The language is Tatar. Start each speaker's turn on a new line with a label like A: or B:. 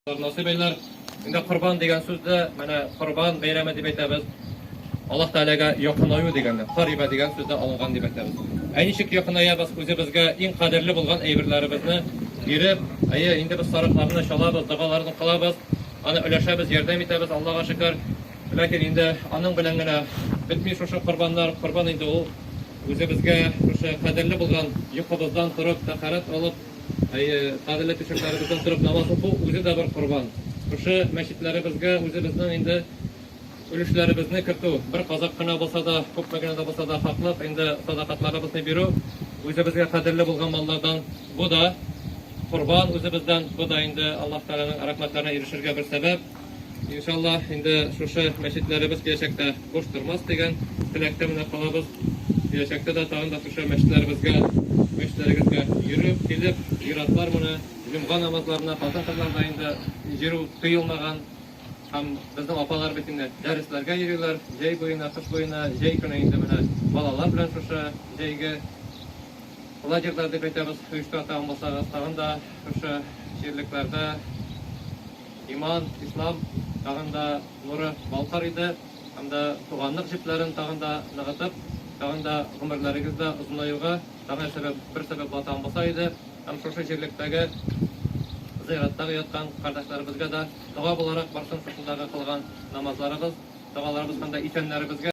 A: Насыйбайлар, инде корбан дигән сүздә, менә корбан бәйрәме дип әйтәбез. Аллаһ Тәгаләгә якынаю дигәндә, кариба дигән сүздә алынган дип әйтәбез. Ә ничек якынаябыз? Үзебезгә иң кадерле булган әйберләребезне биреп, әйе, инде без сарыкларны чалабыз, догаларны кылабыз, аны өләшәбез, ярдәм итәбез, Аллага шөкер. Ләкин инде аның белән генә бетми шушы корбаннар. Корбан инде ул үзебезгә шушы кадерле булган йокыбыздан торып, тәһарәт алып, Әйе, кадерле пешекләребездән торып намаз уку үзе дә бер корбан. Шушы мәчетләребезгә үзебезнең инде өлешләребезне кертү, бер казак кына булса да, күпме генә дә булса да хаклык, инде садакатларыбызны бирү, үзебезгә кадерле булган маллардан бу да корбан үзебездән, бу да инде Аллаһ Тәгаләнең рәхмәтләренә ирешергә бер сәбәп. Иншалла, инде шушы мәчетләребез киләчәктә буш тормас дигән теләктә менә калабыз. Киләчәктә дә тагын да шушы мәчетләребезгә, мәчетләрегезгә йөреп, килеп, зиратлар менә, җомга намазларына хатын-кызлар да инде йөрү тыелмаган. Һәм безнең апалар бит инде дәресләргә йөриләр, җәй буена, кыш буена, җәй көне инде менә балалар белән шушы җәйге лагерьлар дип әйтәбез, оештырырга тагын булсагыз, тагын да шушы җирлекләрдә Иман, Ислам тагын да нуры балкыр иде һәм дә туганлык җепләрен тагын да ныгытып, тагын да гомерләрегездә озынаюга тагын сәбәп, бер сәбәп ватан булса иде һәм шушы җирлектәге зыяраттагы яткан кардәшләребезгә дә дога буларак барсын шушындагы кылган намазларыбыз, догаларыбыз һәм дә исәннәребезгә.